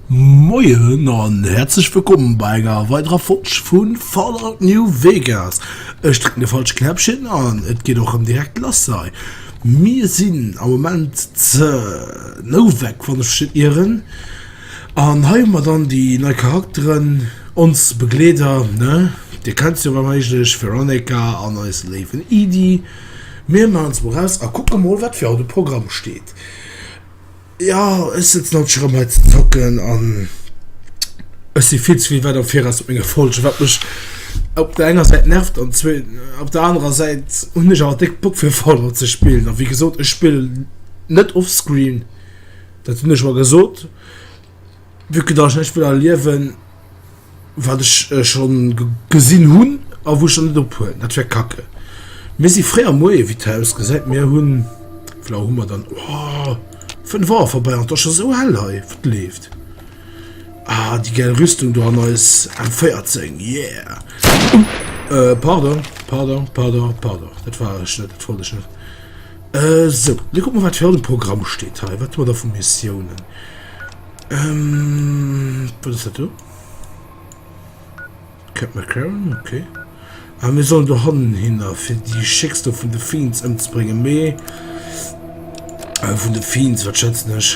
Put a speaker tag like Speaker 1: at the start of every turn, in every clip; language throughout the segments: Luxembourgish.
Speaker 1: Moien an herzlech wëllkommen bei enger weiderer Folg vun Fallout New Vegas. Ech drücken de falsche Knäppchen an et geht och ëm direkt lass sei. Mir sinn am Moment ze Novak wann ech ieren. An hei hu mer dann déi nei Charakteren, ons Begleeder, ne? Dir kennt se jo wa méiglech, Veronica an eise léiwen Edy. Mir maachen se mol raus a kucke mol, wat fir haut um Programm steet. Jo, ech sëtzen haut scho rëm hei ze zocken an ech si vill ze vill wäit am Viraus mat menge Folgen, wat mech op der enger Säit nervt an zwee op der anerer Säit hunn ech awer déck Bock fir Fallout ze spillen. A wéi gesot, ech spillen net offscreen. Dat hunn ech mer gesot, vue que datt ech näischt wëll erliewen, wat ech scho gesinn hunn a wou ech dann net ophuelen. Dat wär kacke. Mir si fréi am Moie wéi d'Haus gesäit. Mir hunn, wéi laang hu mer dann? Oh, fënnef Auer vorbäi an et ass scho esou hell hei. Wat leeft? Ah, déi gäil Rüstung do an eis M14. Yeah! Pardon, pardon, pardon, pardon. Dat war ech net, dat wollt ech net. Sou, da kucke mer, wat fir haut um Programm steet hei. Wat hu mer da vu Missiounen? Wat ass dat do? Cap McCarran, okay. Ah, mir sollen do hannen hinner, fir déi Schicks do vun de Fiends ëmzebréngen. Mee vun de Fiends, wat schätzen ech?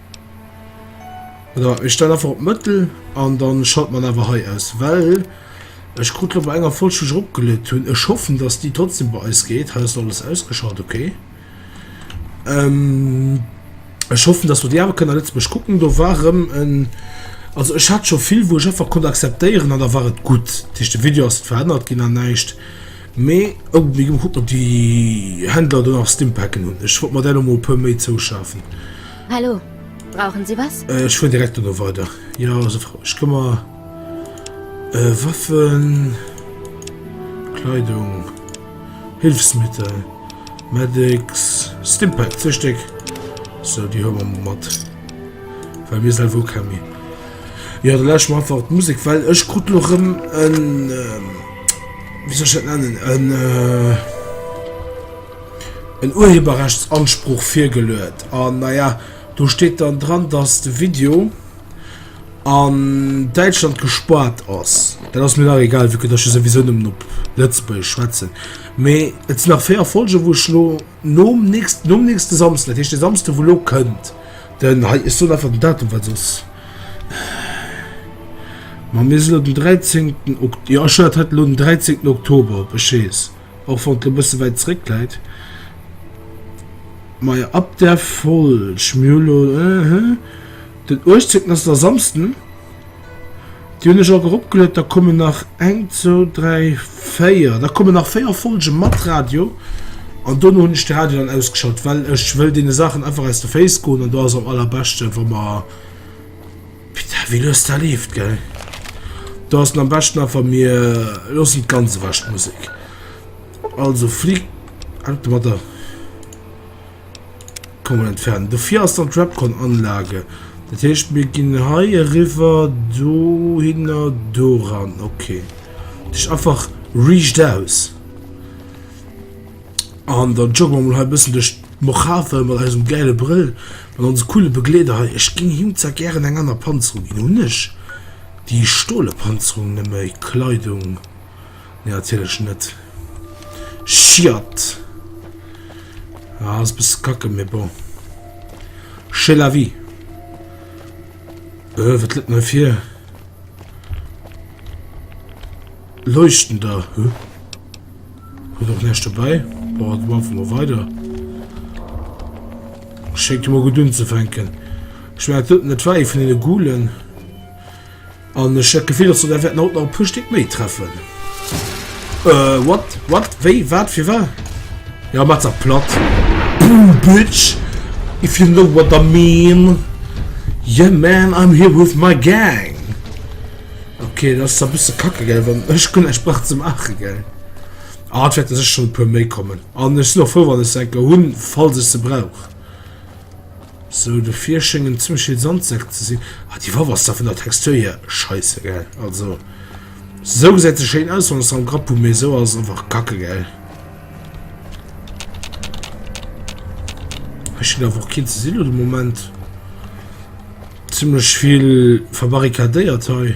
Speaker 1: Oder ich stelle einfach op Mëttel an dann schalt man awer hei aus, well ech krut lo bei enger Folg schon opgelöt hunn. Ech hoffen, dass die trotzdem bei eis geht. Hei ass alles ausgeschalt, okay. Ähm, ech hoffen, dass wir die awer kënnen a Lëtzebuerg kucken. Do war rëm en also ech hat schon vill, wou ech einfach konnt akzeptéieren an da war et gutt. Dat heescht de Video ass net verännert ginn an näischt. Mee oh mee gekuckt op déi Händler do nach Stimpacken hunn. Ech wollt mer där lo mol e puer méi zouschafen. Hallo,
Speaker 2: brauchen Sie was? Ech fueren direkt dono
Speaker 1: weider. Jo se Frau, ech këmmer. Äh Waffen, Kleidung, Hilfsmittel, Medics, Stimpack, zwee Stéck. Sou déi huele mer mol mat, well mir selwer hu keng méi. Jo da lauschteren mer einfach d'Musek, well ech krut lo rëm en. wéi soll ech dat nennen, en, äh, en Urheberrechtsanspruch virgeluet. An naja, do steet dann dran, dass de Video an Däitschland gespaart ass. Dat ass mir nach egal, vu datt ech sowieso nëmmen op Lëtzebuergesch schwätzen. Mee et sinn nach véier Folgen, wou ech lo. Nom nächsten, nom nächsten Samsden, dat heescht den Samsden wou elo kënnt, den, hei ech soen einfach den Datum well soss, ma mir sinn elo den 13 Okt, jo ech hunn dat hei elo den 13 Oktober op, ech weess, och wann et elo e bësse wäit zréck läit, majo ab der Folg, mir hu elo, ëhë, den 18 ass da Samsden. Déi hunn ech och eropgeluet. Da kommen nach eng, zwou, dräi, véier. Da kommen nach véier Folge mat Radio. An dono hunn ech de Radio dann ausgeschalt, well ech wëll deene Saachen einfach aus de Féiss goen. An do ass am allerbeschte wa mer Putain, wéi lues dat leeft, gell. Do ass et am beschten einfach mir loossen et ganz ewech d'Musek. Also Flic, haut de Matin. Kommen entfernen. Dofir ass dann Trapcon Anlage. Dat heescht mir ginn hei river do hinner do ran. Okay. Dich einfach riecht aus. An dann joggen wir mal ein bisschen durch Mojave mit unserem geilen Brill, mit unserem coolen Begleiter. Hey, ich ging ihm zwar gerne eine andere Panzerung, ihn nicht. Die Stohle Panzerung, nämlich Kleidung. Nee natierlech net. Schiatt! Ah, ass e bësse kacke, mee bon. C'est la vie. Äh, wat gëtt mir fir? Leuchten da, huh? Huet och näischt dobäi. Boah, du einfach mal weiter. Schéckt jo mal gut unzefänken. Ich mein, dat net wei vun den Gulen. An ech hat gefehl, dass du der werden haut noch Pustick méi treffen. Äh, what? What? Wéi? Wat? Fir war? Ja, mat der platt. Boom, bitch! If you know what I mean. Yeah, man, I'm here with my gang. Okay, das ist ein bisschen kacke, gell, wenn ich keine Sprache zu machen, gell. Ah, das wird sicher schon ein paar mehr kommen. Und ich bin auch froh, wenn ich denke, Hund, falls ich sie brauche. Sou de Fier schéngt en zimmleche Sandsack ze sinn. Ah déi Waff ass da vun der Textur hier scheisse gell. Also sou gesäit se schéin aus wann se am Grapp hu mee sou ass einfach kacke gell. Hei schéngt awer och keen ze sinn lo de Moment. Zimmlech vill verbarrikadéiert hei.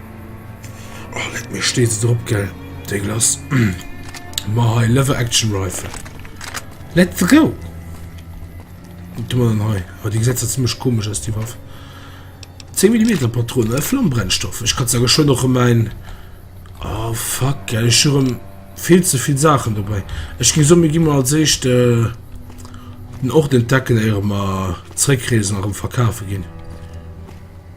Speaker 1: Oh, leck mir steet se drop, gell? Déi Glace. Ma hei, Lever Action Rifle. Let's go! Und du dann hei. Oh, die Gesetze ziemlich komisch aus, die Waffe. 10 mm Patronen, äh, Flammbrennstoff. Ich kann sagen, schon noch mein... Oh, fuck, gell, ich schon viel zu viel Sachen dabei. Ich gehe so, mir gehen mal als erst, äh, den Ort entdecken, ehe wir zurückreisen und verkaufen gehen.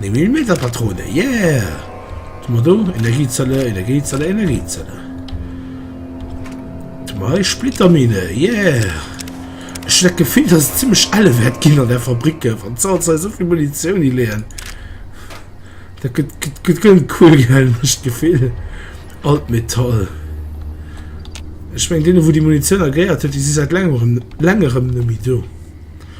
Speaker 1: Néng Millimeter Patrone, yeah! Hu mer do Energiezelle, Energiezelle, Energiezelle. Do hu mer hei Splittermine, yeah! Ech hunn dat Gefill, dass et zimmlech elle wäert ginn an där Fabrik, wann d'Sou hei esou vill Munitioun hileeën. Dat gëtt, gëtt, gëtt ganz cool, gell? Ech hu d'Gefill, all d'Metall. Ech meng, deene, wou déi Munitioun agréiert huet, déi si säit laangem, längerem nemmi do.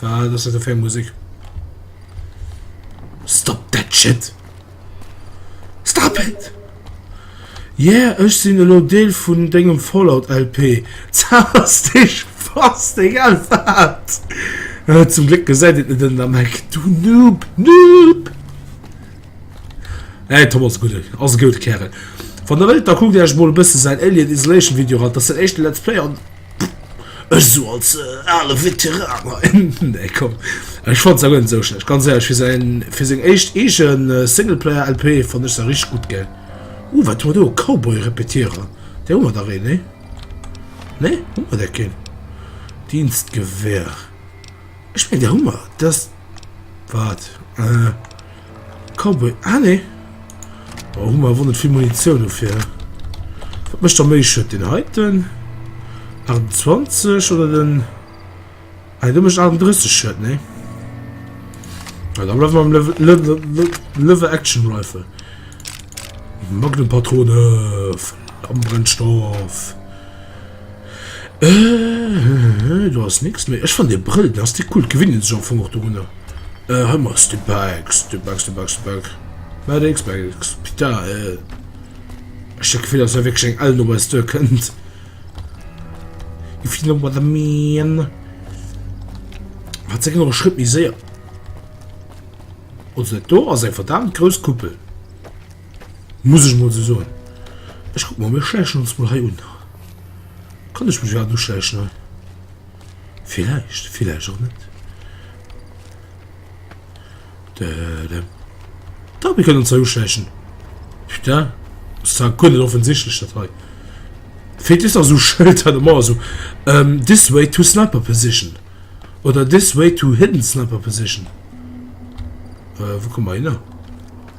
Speaker 1: Wat ass dat do fir eng Musek? Stop that shit! Stop it! Yeah, ech sinn elo Deel vun dengem Fallout-LP. Zauber's dech fast, egal wat! Zum Gléck gesäit et net ënnen am Eck, du Noob! Noob! Hey, Tom ass e Gudden, ass e goud Kärel. Wann der wëllt, da kuckt Iech mol e bësse säin Alien Isolation Video eran, dat ass säin éischte Let's Play an Ech esou als ale Veteran hei, nee komm, ech fannt se awer net esou schlecht, ganz éierlech, fir säin, fir seng éischt eegen Singleplayer-LP fannt ech se richteg gutt gell. Ooh, wat hu mer do, e Cowboy-Repetierer, dee hu mer dach een, nee? Nee, hu mer där keen? Dienstgewehr. Ech meng der Hummer das wat äh, Cowboy ah nee oh, Hummer won net vill Munition dofir wat mecht der méi schëtt den heiten 28 oder den ah, du mecht 38 schëtt nee ah, da bleiwen am Level, Level, Level, Level Action Rifle Magnum Patrone Flammenbrennstoff Äh, do ass nix méi. Ech fannen dee Brëll, den ass déi cool. Gewinnt een sech am Fong och dorunner. Äh, hei mol ass de back, de back, de back, de back. Mä décks back, pita, äh. Ech hat d'Gefill, dass hei wierklech eng Ell no eis duer kënnt. If you know what I mean. Hat se genuch Schrëtt méi séier. Also dat do ass eng verdaamt grouss Kuppel. Muss ech mol sou soen. Ech kuck mer, mir schläichen ons mol hei un. Kann ech mech iwwerhaapt uschläichen hei? Villäicht, villäicht och net. Dadam. Dach, mir kënnen ons hei uschläichen. Putain, ass zwar guer net offensichtlech dat hei. Feelt just nach sou Schëlter de Mauer sou, ähm, this way to sniper position oder this way to hidden sniper position. Wou komme mer hinner?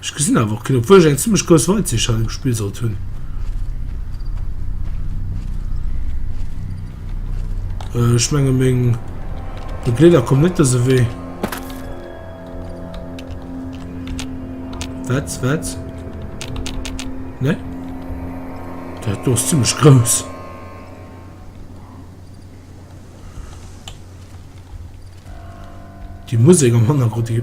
Speaker 1: Ech gesinn awer och keen, obwuel ech eng zimmlech grouss Weitsicht hei um Spill sollt hunn. Äh, ech menge meng Begleeder kommen net dëse Wee. Wat, wat? Ne? Dat do ass zimmlech grouss. Die Musik am Hannergrund, die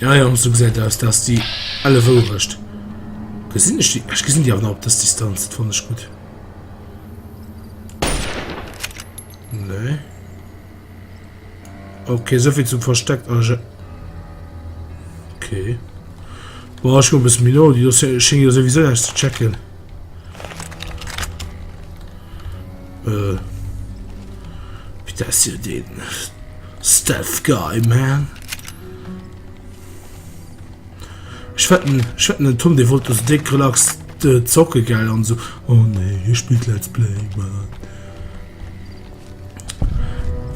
Speaker 1: Ja, ja, so gesagt aus, dass die alle Wurst. Gesehen ich die? Ich gesehen die aber noch auf das Distanz. Das fand ich gut. Nee. Okay, so viel zum Versteck. Also. Okay. Boah, ich glaube, es ist mir noch. Die schien ja sowieso erst zu checken. Äh. Wie das hier den? Stealth guy man. Ech wetten ech wetten den Tom dee wollt do sou déck relax zocke gell an sou oh nee hie spillt let's play man.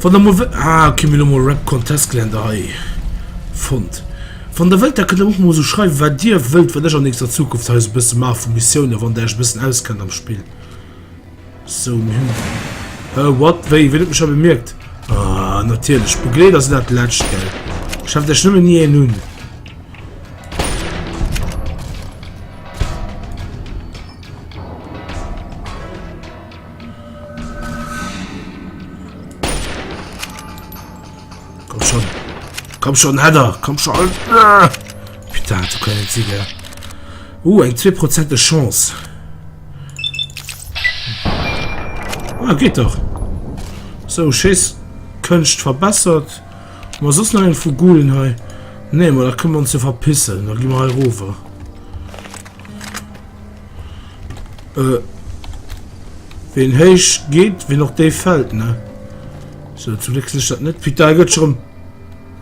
Speaker 1: Wann der mol ah okay mir hu mol Rap Contest Gelände hei fonnt. Wann der wëllt da kënnt der och mol sou schreiwe wat dir wëllt wat ech an nächster Zukunft hei sou bësse maache vu Missiounen wann der iech e bëssen auskennt am Spill. So, mir hunn. Äh, what? Wéi? Wien huet mech da bemierkt? Ah, natierlech. Begleet ass dat Lescht, gell? Schafft ech nëmmen nie en un. Komm schon, Heather, komm schon. Ah, putain, du können Ziegler. Uh, eng 2% Chance. Ah, geht doch. So, Schiss, Könst verbessert. Was ist noch ein Fugulen hei? Nee, aber da können wir uns hier verpissen. Da gehen wir hier rüber. Äh. Wen heisch geht, wen noch der fällt, ne? So, zum Glück ist das nicht. Peter, geht schon.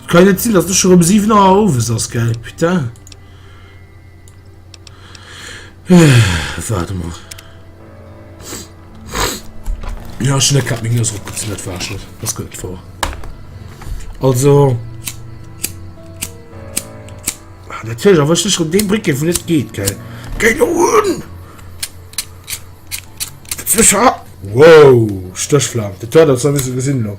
Speaker 1: Keine Ziel, das ist schon um 7 Uhr auf, ist das geil. Peter. Warte mal. Ja, ich net meng Nues opgezun, dat war schon was gëtt vor. Also Datch awer sech op dee Bricke vun net geet ge. Ge hun Wow Stöchflam Dat dat ze wisse gesinn lo.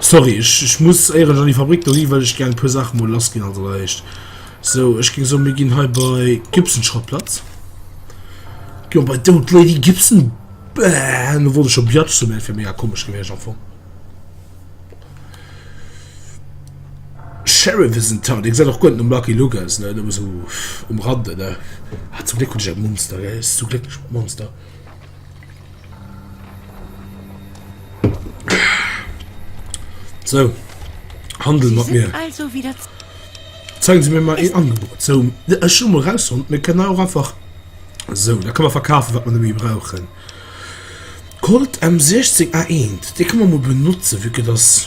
Speaker 1: Sorry, ech, ech muss éieren an déi Fabrik do ginn, well ech gären e puer Saache mol lass ginn. Also allerhéicht sou, ech géng soen, mir ginn hei bei Gibson-Schrottplatz. Jo, bei Dout Lady Gibson. Bäh, lo wollt ech scho Biatch soen, mä dat wär mega komesch gewiescht am Fong. Sheriff is in town. Dee gesäit och guer net nom Lucky Luke aus, ne? Nëmme sou um Rande, ne? Ah, zum Gléck hunn ech e Monster, gell? Zum Gléck hunn ech e Monster. So, handel mat mir. Also wieder
Speaker 3: Zeigen
Speaker 1: Sie mir mal ein Angebot. So, ich schon mal raus und wir können auch einfach. So, da können wir verkaufen, was wir nämlich brauchen. Colt M16A1, die können wir mal benutzen, wie das.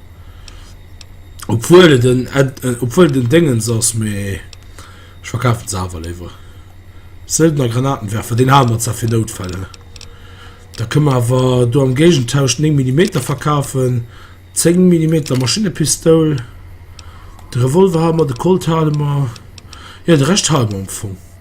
Speaker 1: Obwuel et en obwuel et en Déngens ass, mee ech verkafen se awer léiwer. Söldner Granatenwerfer, deen hale mer zwar fir Noutfäll, hä? Da kënne mer awer do am Géigentausch d'néng Millimeter verkafen, zéng Millimeter Maschinepistoul, de Revolver hale mer, de Colt hale mer, jo de Rescht hale mer am Fong.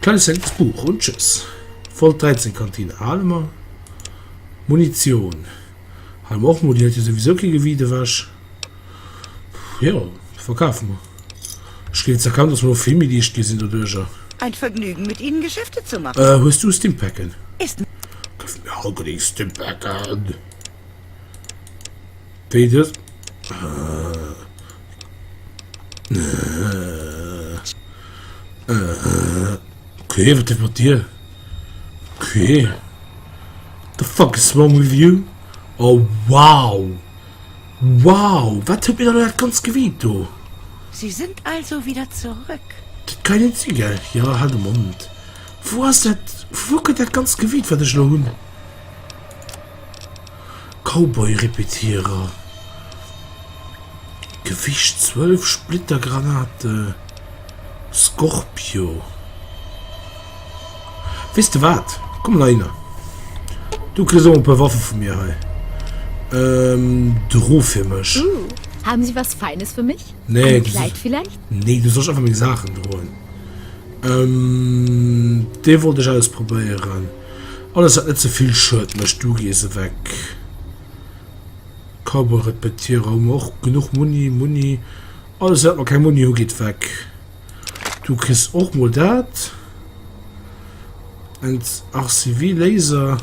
Speaker 1: Kleines hellens Buch und tschüss. Volt 13 Kantine hale mer. Munition hale mer och mol, déi hält jo souwisou kee Gewiit ewech. Jo, verkafe mer. Ech géif jetzt erkennen, dass mer elo vill méi liicht gi sinn doduerjer. Ein Vergnügen
Speaker 3: mit Ihnen Geschäfte zu machen. Äh, hues du Stimpacke? Ist. Gëff mir all
Speaker 1: genee Stimpacken wéi dës. Äh. Okay, wat ass mat dir? Okay. What the fuck is wrong with you? Oh, wow! Wow! Wat huet mir da dat ganz Gewiit do? Sie sind
Speaker 3: also wieder zurück. Dat kann net si,
Speaker 1: gell? Jo, halt de Mond. Wou ass dat, wou kënnt dat ganz Gewiit, wat ech elo hunn? Cowboy-Repetierer, Gewicht 12 Splittergranate, Scorpio. Weess de wat? Komm la hinner. Du kriss och e puer Waffe vu mir hei. Ähm, dru fir mech. Uh, haben Sie was
Speaker 2: Feines für mich? Nee, Ein Kleid
Speaker 1: vielleicht?
Speaker 2: Nee, du sollst einfach meng
Speaker 1: Saachen droen. Ähm, dee wollt ech ausprobéieren. Alles wat net ze vill schued mecht du gees eweg. Cowboy repetiere hu mer och genuch Muni Muni. Alles wat mer keng Muni hu geet weg. Du kriss och mol dat. Ent RCV Laser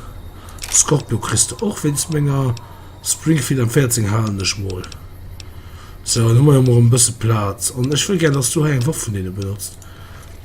Speaker 1: Scorpio kriss du och wéinst menger Springfield am 14 halen ech mol. So an hu mer jo mol e bësse Plaz an ech wëll gär dass du hei eng Waff vun deene benotzt.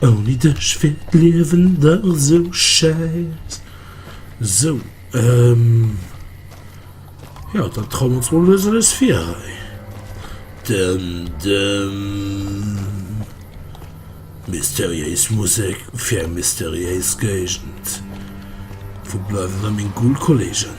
Speaker 1: Ouni dech wär d'Liewen dach sou schäiss. Sou, ehm, jo, dann trauen mer ons mol lues eppes vir hei. Dëm dëm. Mysteriéis Musek fir eng mysteriéis Géigend. Wou bleiwen da meng cool Kollegen?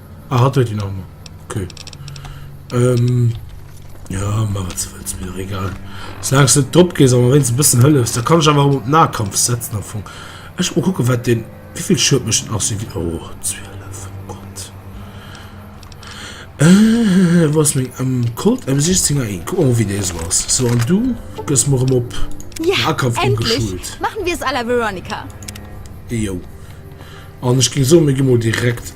Speaker 1: Ah, hat huet een Arme. Okay. Ähm, ja, mach wat ze wëlls, mir egal. Solange du net drop gees, awer wéinst e bëssen hëllefs, da kann ech awer op Nahkampf setzen am Fong. Ech mo kucken, wat den, wéivill Schued mécht den Arce Vile. Oh, 12, Gott. Äh, wou ass meng M? Colt M16 A1. Kuck mol, wéi dee esou ass. So, an du gëss mer erëm op Nahkampf
Speaker 2: ëmgeschult.
Speaker 1: Machen
Speaker 2: wir es à la
Speaker 1: Veronica.
Speaker 2: Jo.
Speaker 1: An ech géing soen, mir gi mol direkt.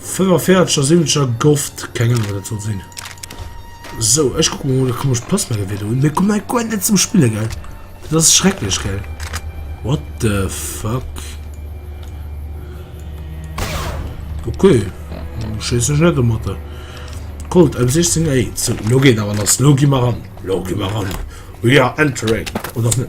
Speaker 1: 45 a 70 a gofft keng Ahnung wat dat soll sinn. So ech guck mol de komesch Postmelle wéi do. Mir kommen goen net zum Spille gell. Dat ass schrecklech gell. What the fuck? Okay. Scheiss ech net mat der. Colt am 16 ey. So, lo geht awer lass. Lo gi mar an. Lo gi mar an. We are entering. Oder net.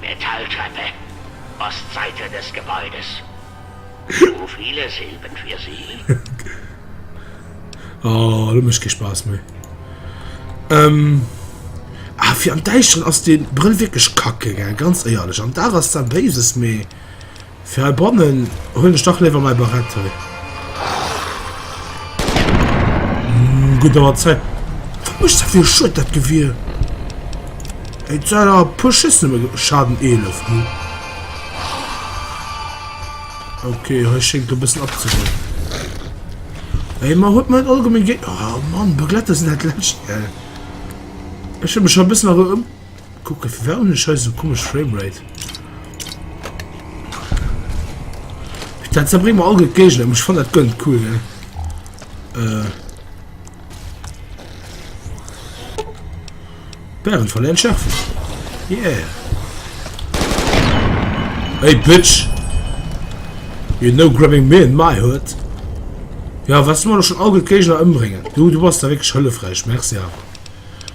Speaker 4: Metalltreppe ass d'Seite des Gebäudes. Zu viele Silben für Sie?
Speaker 1: Oh, dat mécht kee Spaass méi. Ähm, ah, fir am Däischteren ass dee Brëll wierklech kacke, gell, ganz éierlech. Am Dag ass dat Béises, mee. Fir hei bannen huelen ech dach léiwer mäi Barett hei. Gutt awer Zäit. Wat mécht dat fir e Schued dat Gewier? Eng Zäit awer e puer Schëss nëmme ge-. Schaden 11, hm. Okay, hei schéngt e bëssen abzeginn. Ey, mer huet mer allgemeng Gé-. Oh Mann, Begletter sinn dat Lescht, gell? Ech hunn mech scho e bëssen erëm ëm-. Kucken firwat hun ech hei sou komesch Framerate? Dat se bréng mer all gutt Géigner um ech fann dat gënnt cool ne äh. Bären verléieren Schärfen yeah Hey Bitch You know grabbing me in my hood Ja was du mer schon all gutt Géigner ëmbréngen du du bass da wéineg hëllefräich merci awer.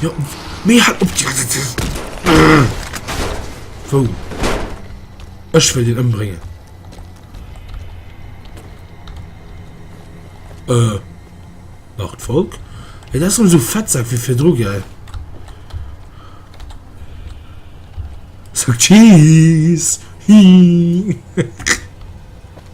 Speaker 1: Jo, mee halt op! Wo? Ech wëll den ëmbréngen. Äh, macht Volk. Ey, das um so Fettsack wie fir dru, gell? Sag Cheese! Hi!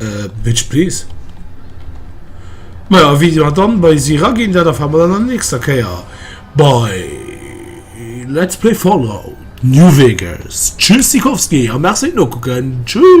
Speaker 1: Äh, bitch please. Maja, Video hat dann bei si raginn, dat erfahre mer dann an der nächster Kéier bei Let's Play Fallout New Vegas. Tschüssikowski a merci fir d'Nokucken. Tschüss.